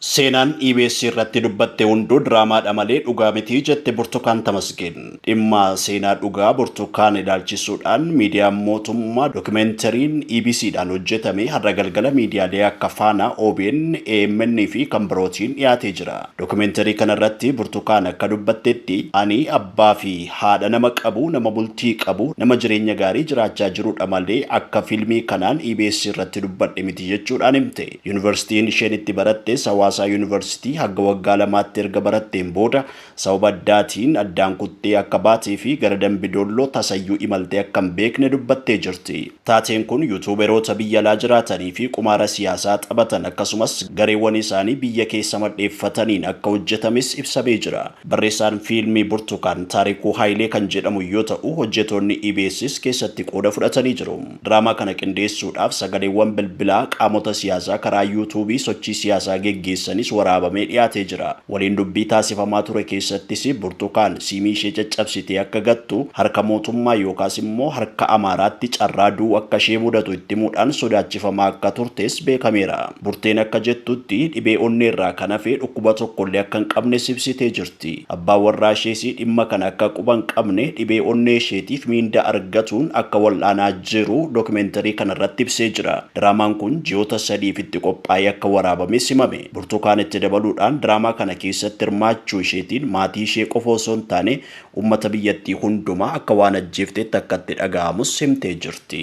Seenaan EBS irratti dubbatte hunduu diraamaadha malee dhugaa miti jette Burtukaan Tamasgeen. Dhimma seenaa dhugaa Burtukaan ilaalchisuudhaan miidiyaan mootummaa dokimentariin EBC dhaan hojjetame har'a galgala miidiyaalee akka Faanaa, obn, AMN fi kan birootiin dhiyaatee jira. Dokimentarii kana irratti Burtukaan akka dubbattetti ani abbaa fi haadha nama qabu, nama bultii qabu, nama jireenya gaarii jiraachaa jirudha malee akka fiilmii kanaan EBS irratti dubbadhe miti jechuudhaan himte. Yunivarsitiin isheen itti barattes Hawaasaa Yunivarsitii hagga waggaa lamaatti erga baratteen booda sababa addaatiin addaan kuttee akka baatee fi gara Dambi Dolloo tasayyuu imaltee akka hin beekne dubbattee jirti. Taateen kun Yuutuuberoota biyya alaa jiraatanii fi qumaara siyaasaa taphatan akkasumas gareewwan isaanii biyya keessa madheeffataniin akka hojjetames ibsamee jira. Barreessaan fiilmii Burtukaan Taarikuu Hayilee kan jedhamu yoo ta'u, hojjetoonni EBSs keessatti qooda fudhatanii jiru. Diraamaa kana qindeessuudhaaf sagaleewwan bilbilaa qaamota siyaasaa karaa Yuutuubii sochii siyaasaa geggeessanis waraabamee dhiyaatee jira. Waliin dubbii taasifamaa ture keessattis Burtukaan siimii ishee caccabsitee akka gattu, harka mootummaa yookaas immoo harka Amaaraatti carraa du'uu akka ishee mudatu itti himuudhaan sodaachifamaa akka turtes beekameera. Burteen akka jettutti, dhibee onneerraa kan hafe dhukkuba tokkollee akka hin qabnes ibsitee jirti. ti. Abbaan warraashees dhimma kana akka quba hin qabne, dhibee onneesheetiif miindaa argatuun akka wal'aanaa jiru dokimenterii kanarratti ibsee jira. Diraamaan kun ji'oota sadiif itti qophaa'ee akka waraabames himame. Burtukaan itti dabaluudhaan diraamaa kana keessatti hirmaachuu isheetiin maatiishee qofa osoo hin taane uummata biyyattii hundumaa akka waan ajjeefteetti akka itti dhaga'amus himtee jirti.